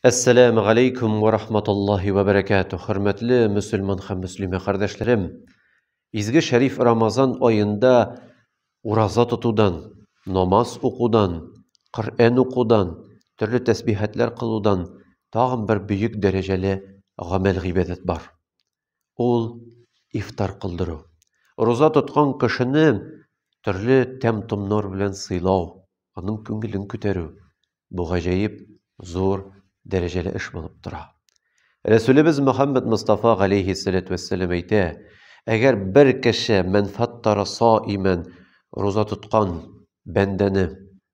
Әссәләмү галәйкүм вә рахматуллаһи вә бәрәкәтү. Хөрмәтле мөселман һәм мөслимә кардәшләрем. Изге шәриф Рамазан аенда ураза тотудан, намаз укудан, Коръән укудан, төрле тәсбихәтләр кылудан тагын бер бөек дәрәҗәле гамәл гыйбадәт бар. ул ифтар кылдыру. Роза тоткан кешене төрле тәм-томнар белән сыйлау, аның күңелен күтәрү бу гаҗәеп зур дәрәҗәле эш булып тора. Рәсүлебез Мөхәммәд Мустафа галейһи сәләтү вәссәлам әйтә, әгәр бер кеше мәнфәгатьтара саимән роза тоткан бәндәне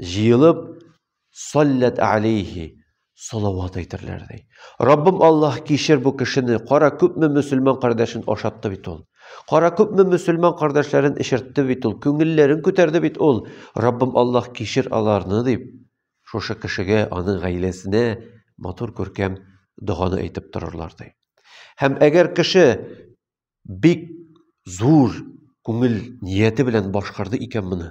Җыелып, саллят алейхи, салават әйтерләр ди. Раббым Аллаһ, кичер бу кешене, кара күпме мөселман кардәшен ашатты бит ул. Кара күпме мөселман кардәшләрен эчертте бит ул, күңелләрен күтәрде бит ул. Раббым Аллаһ, кичер аларны, дип, шушы кешегә, аның гаиләсенә матур күркәм доганы әйтеп торырлар ди. Һәм әгәр кеше Бик зур күңел нияте белән башкарды икән моны.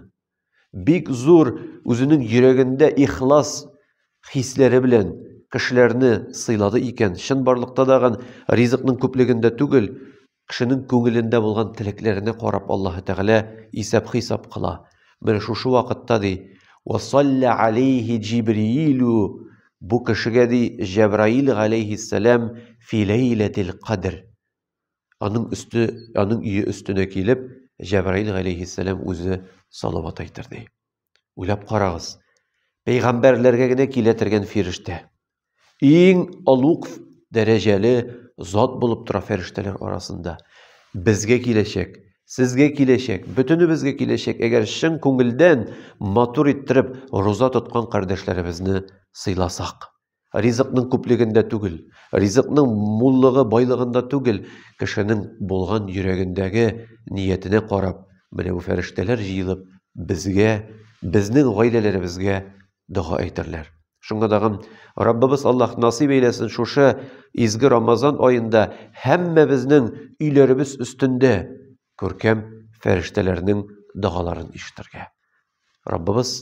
Бик зур үзенең йөрәгендә ихлас хисләре белән кешеләрне сыйлады икән. Чын барлыкта да ган ризыкның күплегендә түгел, кешенең күңелендә булган теләкләренә карап Аллаһ Тәгалә исәп-хисап кыла. Менә шушы вакытта ди, "Ва салла алейхи Җибриилу" бу кешегә ди Җәбраил галейхиссәлам фи ләйләтил кадр. Аның өсте, аның өе өстенә килеп, Җәбраил галәйһиссәлам үзе салават әйтер ди. Уйлап карагыз. Пәйгамбәрләргә генә килә торган фирештә. Иң олуг дәрәҗәле зат булып тора фирештәләр арасында. Безгә киләчәк, сезгә киләчәк, бөтенебезгә киләчәк, әгәр чын күңелдән матур иттереп роза тоткан кардәшләребезне сыйласак. Ризыкның күплегендә түгел, ризыкның муллыгы, байлыгында түгел, кешенең булган йөрәгендәге ниятенә карап, менә бу фәрештәләр җыелып, безгә, безнең гаиләләребезгә дога әйтерләр. Шуңа тагын Раббыбыз Аллаһ насыйп әйләсен шушы изге Рамазан аенда һәммәбезнең өйләребез өстендә күркәм фәрештәләрнең догаларын ишетергә. Раббыбыз